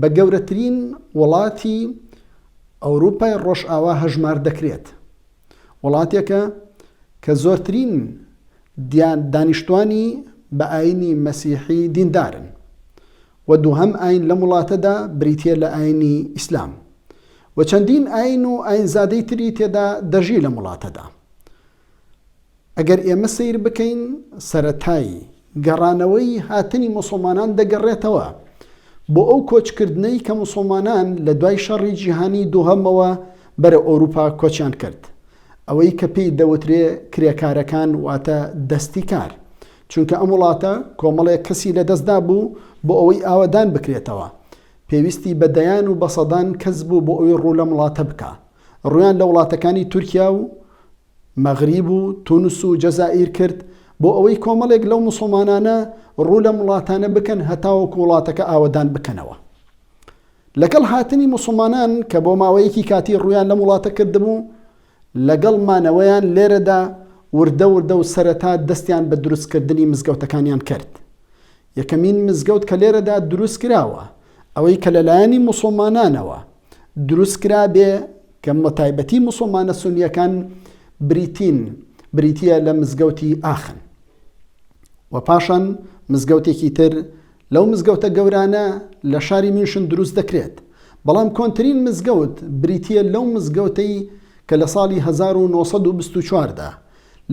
بە گەورەترین وڵاتی ئەوروپای ڕۆژئاوا هەژمار دەکرێت، وڵاتێکە کە زۆرترین دانیشتوانی بە ئایینی مەسیحی دیندارن و دووهەم ئایین لەم وڵاتەدا بریتییە لە ئایینی ئیسلام و چەندین ئایین و ئایینزادەی تری تێدا دەژی لەم وڵاتەدا. ئەگەر ئێمە سەیر بکەین سەرەتای گەڕانەوەی هاتنی موسڵمانان دەگەڕێتەوە بۆ ئەو کۆچکردنەی کە موسڵمانان لە دوای شەڕی جیهانی دووهەمەوە بەرە ئەوروپا کۆچیان کرد ئەوەی کە پێی دەوترێ کرێکارەکان واتە دەستی کار چونکە ئەم وڵاتە کۆمەڵێک کەسی لەدەستدا بوو بۆ ئەوەی ئاوەدان بکرێتەوە پێویستی بە دەیان و بەسەدان کەس بوو بۆ ئەوی ڕوو لەم وڵاتە بکە ڕوویان لە وڵاتەکانی تورکیا و مەغریب و تونس و جەزائیر کرد بۆ ئەوەی کۆمەڵێک لەو موسڵمانانە ڕوو لەم وڵاتانە بکەن هەتاوەکو وڵاتەکە ئاوەدان بکەنەوە. لەگەڵ هاتنی موسڵمانان کە بۆ ماوەیەکی کاتی ڕوویان لەم وڵاتە کردبوو، لەگەڵ مانەوەیان لێرەدا وردە وردە و سەرەتا دەستیان بە دروستکردنی مزگەوتەکانیان کرد. یەکەمین مزگەوت کە لێرەدا دروستکراوە، ئەوەی کە لەلایەنی موسڵمانانەوە، دروست کرابێ کە بە تایبەتی موسڵمانە سونیەکان بریتین بریتیە لە مزگەوتی ئاخن و پاشان مزگەوتێکی تر لەو مزگەوتە گەورانە لە شاری میونشن دروست دەکرێت بەڵام کۆنترین مزگەوت بریتیە لەو مزگەوتەی کە لە ساڵی 1924دا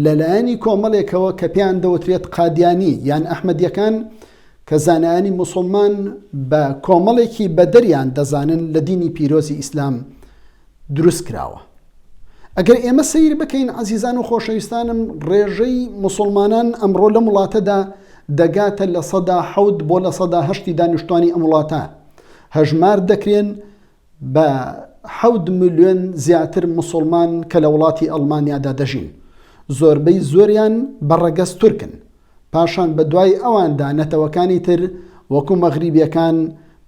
لە لایەنی کۆمەڵێکەوە کە پێیان دەوترێت قادیانی یان ئەحمەدیەکان کە زانایانی موسوڵمان بە کۆمەڵێکی بەدەریان دەزانن لە دینی پیرۆزی ئیسلام دروست کراوە ئەگەر ئێمە سیر بکەین عزیزان و خۆشەویستانم ڕێژەی مسلمانان ئەمڕۆ لەم وڵاتەدا دەگاتە لە سەدا حەوت بۆ لە سەدا هەشتی دانیشتوانی ئەم وڵاتە هەژمار دەکرێن بە حەوت ملیۆن زیاتر موسوڵمان کە لە وڵاتی ئەڵمانیادا دەژین، زۆربەی زۆریان بە ڕەگەز تورکن، پاشان بە دوای ئەواندا نەتەوەکانی تر وەکو مەغریبیەکان،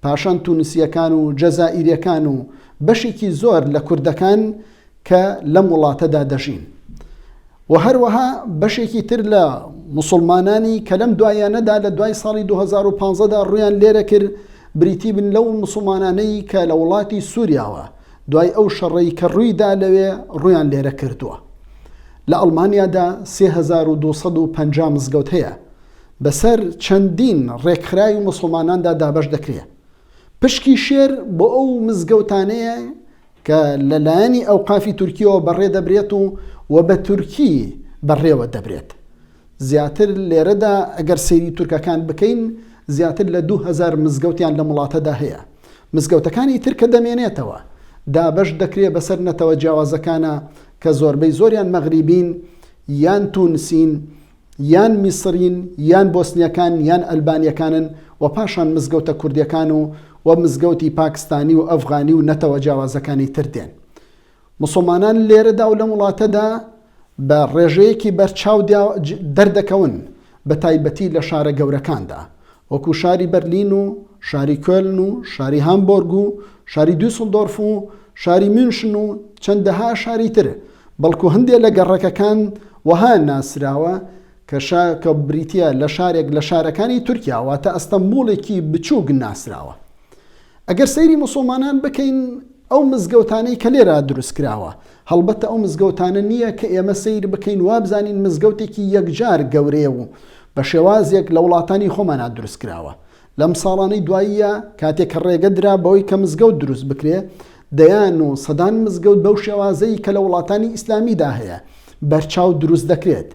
پاشان تونسیەکان و جەزائیریەکان و بەشێکی زۆر لە کوردەکان کە لەم وڵاتەدا دەژین و هەروەها بەشێکی تر لە مسلمانانی کە لەم دوایانەدا لە دوای ساڵی 2015 دا ڕویان لێرە کرد بریتی بن لەو مسلمانانەی کە لە وڵاتی سووریاوە دوای ئەو شەڕەی کە ڕوویدا لەوێ ڕویان لێرە کردووە لە ئەڵمانیادا 3250 مزگەوت هەیە بەسەر چەندین ڕێکخراوی مسلماناندا دابش دەکرێت پشکی شێر بۆ ئەو مزگەوتانەیە کە لە لایەنی ئەوقافی تورکیەوە بەڕێ دەبرێت و و بە تورکی بەڕێوە دەبرێت. زیاتر لێرەدا ئەگەر سەیری تورکەکان بکەین زیاتر لە دوو هەزار مزگەوتیان لەم وڵاتەدا هەیە. مزگەوتەکانی تر کە دەمێنێتەوە دابەش دەکرێ بەسەر نەتەوە جیاوازەکانا کە زۆربەی زۆریان مەغریبین یان تونسین یان میسرین یان بۆسنیەکان یان ئەلبانیەکانن و پاشان مزگەوتە کوردیەکان و و مزگەوتی پاکستانی و ئەفغانی و نەتەوە جیاوازەکانی تر دێن. موسڵمانان لێرەدا و لەم وڵاتەدا بە ڕێژەیەکی بەرچاو دەردەکەون بەتایبەتی لە شارە گەورەکاندا وەکو شاری بەرلین و شاری کۆلن و شاری هامبۆرگ و شاری دوسلدۆرف و شاری مونشن و چەندەها شاری تر، بەڵکو هەندێ لە گەڕەکەکان وەها ناسراوە کە شا کە بریتیە لە شارێک لە شارەکانی تورکیا واتە ئەستەمبوڵێکی بچوک ناسراوە. ئەگەر سەیری موسڵمانان بکەین ئەو مزگەوتانەی کە لێرە دروستکراوە هەڵبەتە ئەو مزگەوتانە نییە کە ئێمە سەیر بکەین وابزانین مزگەوتێکی یەکجار گەورەیە و بە شێوازێک لە وڵاتانی خۆمانا دروست کراوە. لەم ساڵانەی دواییە کاتێک کە ڕێگە درا بەوەی کە مزگەوت دروست بکرێ، دەیان و سەدان مزگەوت بەو شێوازەی کە لە وڵاتانی ئیسلامیدا هەیە، بەرچاو دروست دەکرێت.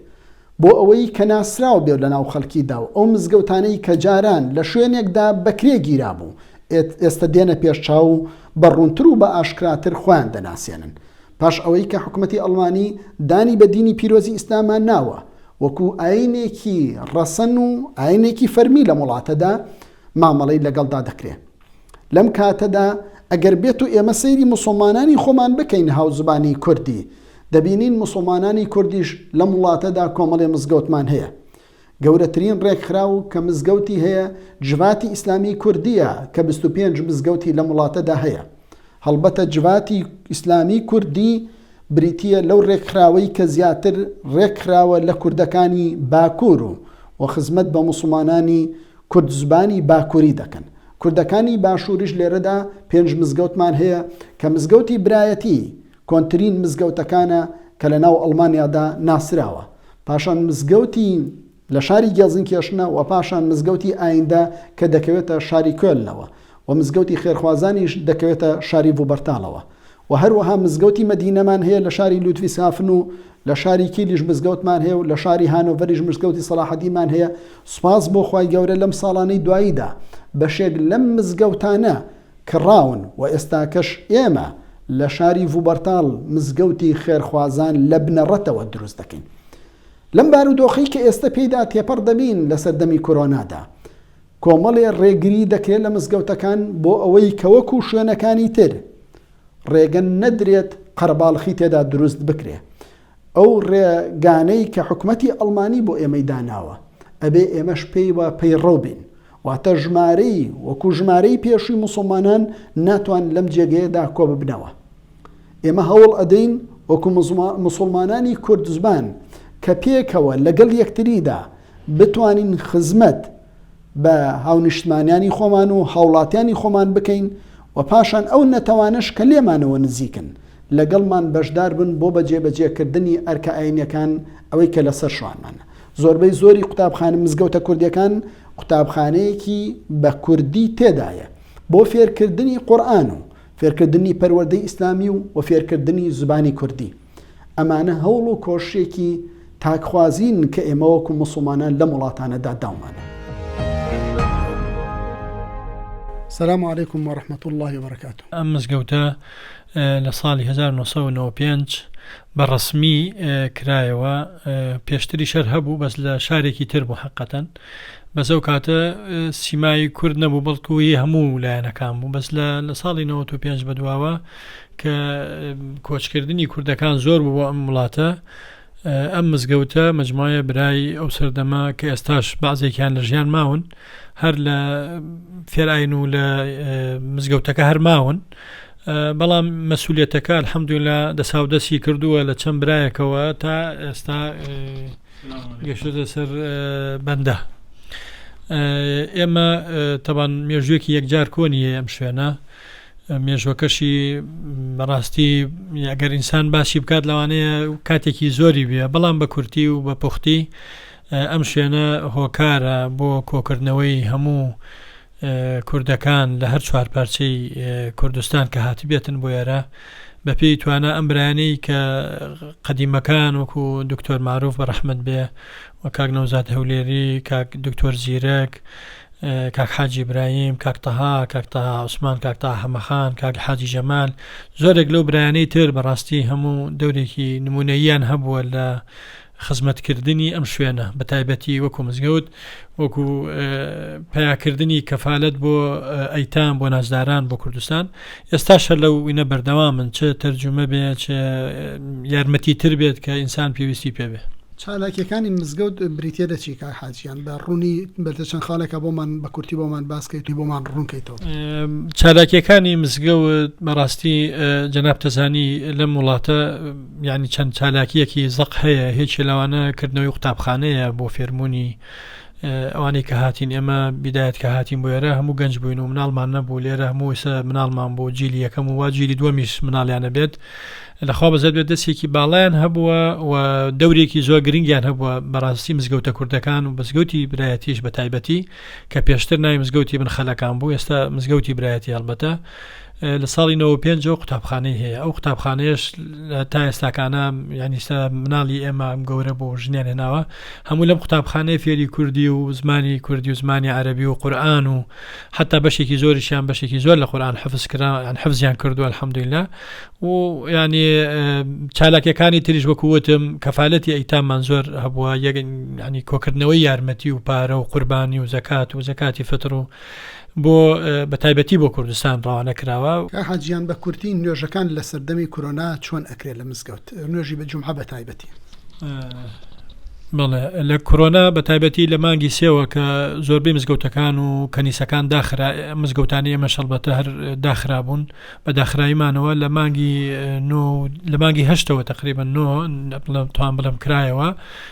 بۆ ئەوەی کە ناسراو بێت لە ناو خەلکی دا و ئەو مزگەوتانەی کە جاران لە شوێنێک دا بە کرێ گیرا بوو ئێستە دێنە پێش چاو و بە روونتر و بە ئاشکراتر خۆیان دەناسێنن پاش ئەوەی کە حکومەتی ئەلمانی دانی بە دینی پیرۆزی ئیسلاما ناوە وەکو ئاینێکی رەسەن و ئاینێکی فەرمی لەم وڵاتە دا مامەڵەی لەگەڵ دا دەکرێ لەم کاتە دا ئەگەر بێتو ئێمە سەیری موسوڵمانانی خۆمان بکەین هاوزبانی کوردی دەبینین موسڵمانانی کوردیش لەم وڵاتەدا کۆمەڵێ مزگەوتمان هەیە. گەورەترین ڕێکخراو کە مزگەوتی هەیە جڤاتی ئیسلامیی کوردییە کە بیست و پێنج مزگەوتی لەم وڵاتەدا هەیە. هەڵبەتە جڤاتی ئیسلامیی کوردی بریتییە لەو ڕێکخراوەی کە زیاتر ڕێکخراوە لە کوردەکانی باکوور و و خزمەت بە موسڵمانانی کوردزبانی باکووری دەکەن. کوردەکانی باشووریش لێرەدا پێنج مزگەوتمان هەیە کە مزگەوتی برایەتی، کۆنترین مزگەوتەکانە کە لە ناو ئەڵمانیادا ناسراوە، پاشان مزگەوتی لە شاری گێڵزنکێرشنە و پاشان مزگەوتی ئایندە کە دەکەوێتە شاری کۆلنەوە و مزگەوتی خێرخوازانیش دەکەوێتە شاری ڤوبەرتاڵەوە و هەروەها مزگەوتی مەدینەمان هەیە لە شاری لودڤیسهافن و لە شاری کیلیش مزگەوتمان هەیە و لە شاری هانۆڤەریش مزگەوتی سەڵاحەدینمان هەیە سوپاس بۆ خوای گەورە لەم ساڵانەی دواییدا بەشێک لەم مزگەوتانە کڕاون و ئێستاکەش ئێمە لە شاری ڤوبەرتاڵ مزگەوتی خێرخوازان لە بنەڕەتەوە دروست دەکەین. لەم بارودۆخەی کە ئێستە پێیدا تێپەڕ دەبین لە سەردەمی کۆرۆنادا، کۆمەڵێ ڕێگری دەکرێت لە مزگەوتەکان بۆ ئەوەی کە وەکو شوێنەکانی تر ڕێگە نەدرێت قەرەباڵخی تێدا دروست بکرێت. ئەو ڕێ گانەی کە حکومەتی ئەڵمانی بۆ ئێمەی داناوە ئەبێ ئێمەش پێی وە پەی ڕەو بین واتە ژمارەی وەکو ژمارەی پێشوی موسڵمانان ناتوان لەم جێگەیە دا کۆ ببنەوە ئێمە هەوڵ ئەدەین وەکو موسڵمانانی کوردزبان کە پێکەوە لەگەڵ یەکتریدا بتوانین خزمەت بە هاونیشتمانیانی خۆمان و هاوڵاتیانی خۆمان بکەین و پاشان ئەو نەتەوانەش کە لێمانەوە نزیکن لەگەڵمان بەشدار بن بۆ بەجێبەجێکردنی ئەرکە ئاینیەکان ئەوەی کە لەسەر شوانمانە زۆربەی زۆری قوتابخانە مزگەوتە کوردیەکان قوتابخانەیەکی بە کوردی تێدایە بۆ فێرکردنی قورآن و فێرکردنی پەروەردەی ئیسلامی و و فێرکردنی زبانی کوردی ئەمانە هەوڵ و کۆششێکی تاکخوازین کە ئێمە وەکو موسڵمانان لەم وڵاتانەدا داومانە. سلام علیکم و رحمت الله و برکات. ئەم مزگەوتە لە ساڵی 1995 بە ڕسمی کرایەوە پێشتری شەر هەبوو بەس لە شارێکی تر بوو حقەتەن بەس ئەو کاتە سیمای کورد نەبوو بەڵکوی هەموو لایەنەکان بوو بەس لە لە ساڵی 95 بەدواوە کە کۆچکردنی کوردەکان زۆر بوو بۆ ئەم وڵاتە ئەم مزگەوتە مجموعە برای ئەو سەردەمە کە ئێستاش بازێکیان لە ژیان ماون هەر لە فێراین و لە مزگەوتەکە هەر ماون بەڵام مەسوولێتەکە حەمدولا دەساودەستی کردووە لە چەند برایەکەوە تا ئێستا گەشتە سەر بەندە ئێمە تەبان مێژوێکی یەکجار کۆنیە ئەم شوێنە مێژوەکەشی بەڕاستی ئەگەر ئینسان باسی بکات لەوانەیە کاتێکی زۆری بێ بەڵام بە کورتی و بە پوختی ئەم شوێنە هۆکارە بۆ کۆکردنەوەی هەموو کوردەکان لە هەر چوار پارچەی کوردستان کە هاتبێتن بۆ ئێرە بە پێی توانە ئەم برانەی کە قەدیمەکان وەکو دکتۆر معروف بە ڕحمد بێ کاک نەوزاد هەولێری، کاک دکتۆر زیرەک، کاک حاجی برایم، کاک تەها، کاک تەها عوسمان، کاک تەها حەمەخان، کاک حاجی جەمال، زۆرێک لەو برایانەی تر بەڕاستی هەموو دەورێکی نموونەییان هەبووە لە خزمەتکردنی ئەم شوێنە بە تایبەتی وەکو مزگەوت وەکو پیاکردنی کەفالەت بۆ ئەیتام بۆ نازداران بۆ کوردستان. ئێستاش هەر لەو وینە بەردەوامن چ تەرجومە بێ چ یارمەتی تر بێت کە ئینسان پێویستی پێ بێ. چالاکیەکانی مزگەوت بریتیە لە چی کاک حاج گیان بە ڕوونی بەردە چەند خاڵێکا بۆمان بە کورتی بۆمان باس کەیت و بۆمان ڕوون کەیتەوە. چالاکیەکانی مزگەوت بەڕاستی جەناب تەزانی لەم وڵاتە یانی چەند چالاکیەکی زەق هەیە هێکی لەوانە کردنەوەی قوتابخانەیە بۆ فێربوونی ئەوانەی کە هاتین ئێمە بیدایەت کە هاتین بۆ ئێرە هەموو گەنج بووین و مناڵمان نەبوو لێرە هەمووسە مناڵمان بۆ جیلی یەکەم و وا جیلی دووەمیش مناڵیانە بێت لەخوا بەزەر بێت دەستێکی باڵیان هەبووە و دەورێکی زۆر گرنگیان هەبووە بەڕاستی مزگەوتە کوردەکان و بەزگەوتی برایەتیش بە تایبەتی کە پێشتر ناوی مزگەوتی بن خەلەکان بوو ئێستا مزگەوتی برایەتی هەڵبەتە لە ساڵی 95 ەوە قوتابخانەی هەیە ئەو قوتابخانەیەش تا ئێستاکانە یانیستا مناڵی ئێمە گەورە بۆ ژنیان هێناوە هەموو لەم قوتابخانەیە فێری کوردی و زمانی کوردی و زمانی عەربی و قورآن و حتا بەشێکی زۆریشیان بەشێکی زۆر لە قورآان حفز کرا یان حفزیان کردووە الحەمدویلا و ینی چالاکەکانی تریش وەکووتم کەفاالەتی ئەیتامان زۆر هەبووە یەگەنی کۆکردنەوەی یارمەتی و پارە و قوربانی و زکات و زکاتی فتر و بۆ بە تایبەتی بۆ کوردستان ڕەوانە کراوە. کاک حاجییان بە کورتی نوێژەکان لە سەردەمی کورۆنا چۆن ئەکرێ لە مزگەوت؟ نوێژی بە جومعە بە تایبەتی. بەڵێ لە کورۆنا بە تایبەتی لە مانگی سێوە کە زۆربەی مزگەوتەکان و کەنیسەکان داخرا مزگەوتانی ئێمە شەڵبەتە هەر داخرابوون بە داخراییمانەوە لە مانگی نۆ لە مانگی هەشتەوە تقریبا نۆ بڵێم توان بڵێم کرایەوە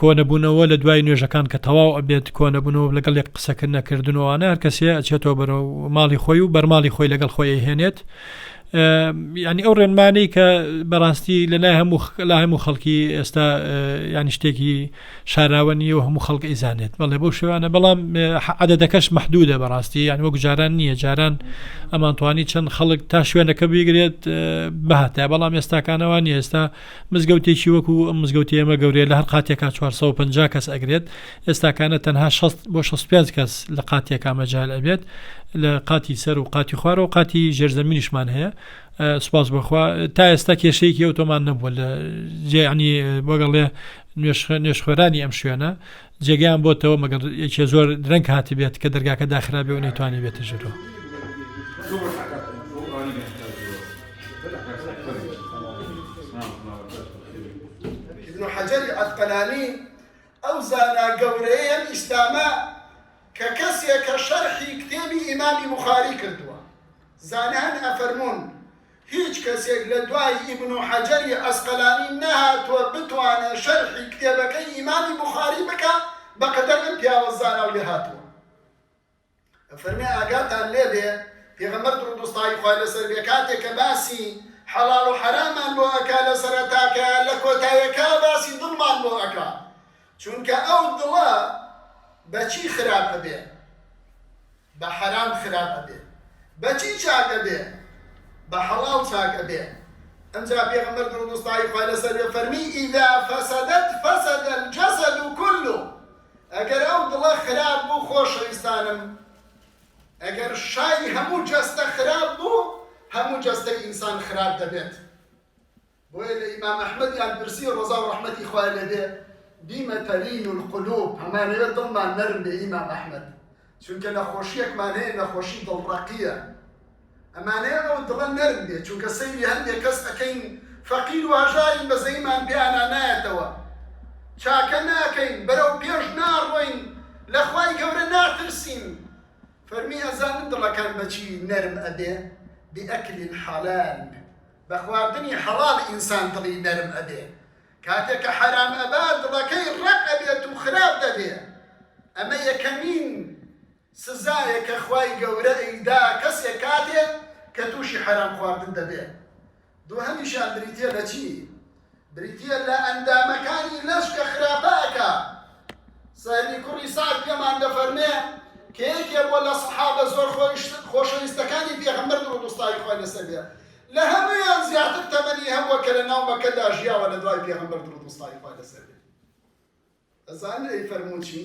کۆنەبونەوە لە دوای نوێژەکان کە تەواو ئەبێت کۆنەبنەوە لەگەڵ یەک قسەکرد نەکردنەوەوانە هەر کەسێ ئەچێتەوە بەرە ماڵی خۆی و بەرماڵی خۆی لەگەڵ خۆی هێنێت ینی ئەو ڕێنمانەی کە بەڕاستی لە لای هەموو لا هەموو خەڵکی ئێستا ینی شتێکی شاراوە نیە و هەموو خەڵک ئیزانێت بەڵێ بۆ شوانە بەڵام عادەتەکەش محدودە بەڕاستی یان وەک جاران نییە جاران ئەمانتوانی چەند خەڵک تا شوێنەکە بگرێت بەهاتە بەڵام ئێستاکانەوە نیە ئێستا مزگەوتێکی وەکو ئەم مزگەوتی ئێمە گەورەیە لە هەر قاتێکا چوار سەد و پەنجا کەس ئەگرێت ئێستاکانە تەنها شەست بۆ شەست و پێنج کەس لە قاتێکا مەجال ئەبێت لە قاتی سەر و قاتی خوارەوە قاتی ژێرزەمینیشمان هەیە ئە، سوپاس بەخوا تا ئێستا کێشەیەکی ئەوتۆمان نەبووە لە جێ عنی بەگەڵێ نوێژخوێ- نوێژخوێرانی ئەم شوێنە جێگەیان بۆتەوە مەگەر یەکێ زۆر درەنگ هاتبێت کە دەرگاکە داخرابێ و نەیتوانی بێتە ژورۆ. حەجەری عەسقەلانی ئەو زانا گەورەیە ئیسلامە کە کەسێکە شەرحی کتێبی ئیمامی بوخاری کردووە زانان ئەفەرموون هیچ کەسێک لە دوای ئیبن حەجەری عەسقەلانی نەهاتووە بتوانێ شەرحی کتێبەکەی ئیمامی بوخاری بکا بە قەدەر ئەم پیاوە زانا و لێهاتووە ئەفەرمێ ئاگاتان لێ بێ پێغەمبەر دروود و ستای خوا لە سەر بێ کاتێ کە باسی حەڵاڵ و حەرامان بۆ ئەکا لە سەرەتاکە لە کۆتایەکا باسی دڵمان بۆ ئەکا چوونکە ئەو دڵە بە چی خراپ ئەبێ بە حەرام خراپ ئەبێ بەچی چاک ئەبێ بە حەڵاڵ چاک ئەبێ ئەمجا پێغەمبەر درود و ستای خوای لەسەر بێ فەرمی اذا فسدت فسد الجسد كله ئەگەر ئەو دڵە خراپ بوو خۆشەویستانم ئەگەر شای هەموو جەستە خراپ بوو هەموو جەستەی ئینسان خراپ دەبێت بۆیە لە ئیمام ئەحمەدیان پرسی ڕەزا و ڕەحمەتی خوای لێ بێ، بیمە تەلین القلوب، ئەمانەوێ دڵمان نەرم بێ ئیمام ئەحمەد، چونکە نەخۆشییەکمان هەیە نەخۆشی دڵ ڕەقییە، ئەمانەوێ ئەو دڵە نەرم بێ، چونکە سەیری هەندێ کەس ئەکەین فەقیر و هەژارین بەزەیمان پێیانا نایەتەوە، چاکە ناکەین، بەرەو پێش ناڕۆین، لە خوای گەورە ناترسین، فەرمی ئەزانن دڵەکان بە چی نەرم ئەبێ، بئکل الحلال. بە خواردنی حەڵاڵ ئینسان دڵی نەرم ئەبێ کاتێ کە حەرام ئەبا دڵەکەی ڕەق ئەبێت و خراپ دەبێ ئەمە یەکەمین سزایە کە خوای گەورە ئەیدا کەسێ کاتێ کە توشی حەرام خواردن دەبێ دوهەمیشیان بریتیە لە چی بریتیە لە ئەندامەکانی لەش کە خراپە ئەکا سەهلی کوڕی سەعد پێمان دەفەرمێ کە یەکێ بۆ لە سەحابە زۆر خۆشەویستەکانی پێغەمبەر درود و ستای خوای لەسەر بێ لە هەمویان زیاتر تەمەنی هەبووە کە لە ناو مەکەدا ژیاوە لە دوای پێغەمبەر درود و ستای خوای لەسەر بێ ئەزان ئەی فەرموچی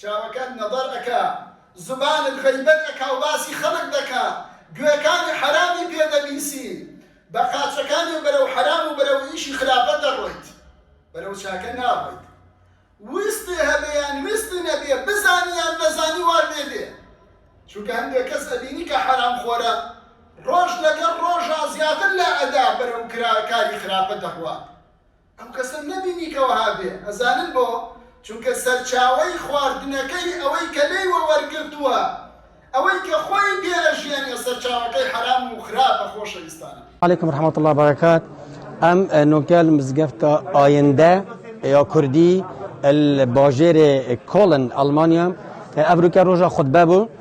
چاوەکەت نەزەر ئەکا زوبانت غەیبەت ئەکا و باسی خەڵک دەکا گوێکانی حەرامی پێ دەبیسی بە قاچەکانی و بەرەو حەرام و بەرەو ئیشی خراپە دەڕۆیت بەرەو چاکە ناڕۆیت ویستی هەبێ یان ویستی نەبێ بزانی یان نەزانی وا لێ دێ چونکە هەندێ کەس ئەبینی کە حەرام خۆرە ڕۆژ لەگەڵ ڕۆژا زیاتر لا ئەدا بەرەو کرا کاری خراپە دەڕوات ئەم کەسەم نەبینی کە وەها بێ ئەزانن بۆ چونکە سەرچاوەی خواردنەکەی ئەوەی کە لێی وە وەرگرتووە ئەوەی کە خۆی پێ ئەژیەنێ سەرچاوەکەی حەرام و خراپە خۆشەویستانم. علیکم رحمت اللە برکات ئەم نۆکەل مزگەفتە ئایندە یا کوردی باژێرێ کۆڵن ئەڵمانیا ئەڤروکە ڕۆژە خودبە بوو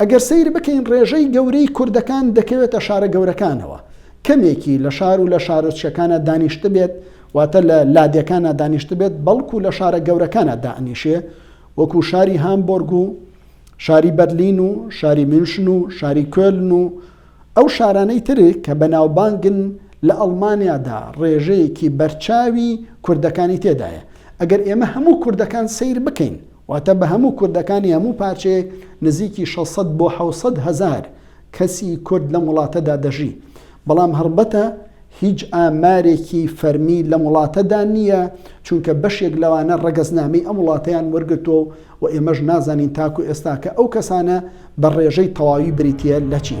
ئەگەر سەیر بکەین ڕێژەی گەورەی کوردەکان دەکەوێتە شارە گەورەکانەوە، کەمێکی لە شار و لە شارۆچکەکانا دانیشتبێت، واتە لە لادێکانا دانیشتبێت، بەڵکو لە شارە گەورەکانا دائەنیشێ، وەکو شاری هامبۆرگ و شاری بەرلین و شاری میونشن و شاری کۆلن و ئەو شارانەی تر کە بەناوبانگن لە ئەڵمانیادا ڕێژەیەکی بەرچاوی کوردەکانی تێدایە. ئەگەر ئێمە هەموو کوردەکان سەیر بکەین، واتە بە هەموو کوردەکانی هەموو پارچەیەک نزیکی شەش سەد بۆ حەوت سەد هەزار کەسی کورد لەم وڵاتەدا دەژی، بەڵام هەڵبەتە هیچ ئامارێکی فەرمی لەم وڵاتەدا نییە، چونکە بەشێک لەوانە ڕەگەزنامەی ئەم وڵاتەیان وەرگرتووە و ئێمەش نازانین تاکو ئێستا کە ئەو کەسانە بە ڕێژەی تەواوی بریتییە لە چی.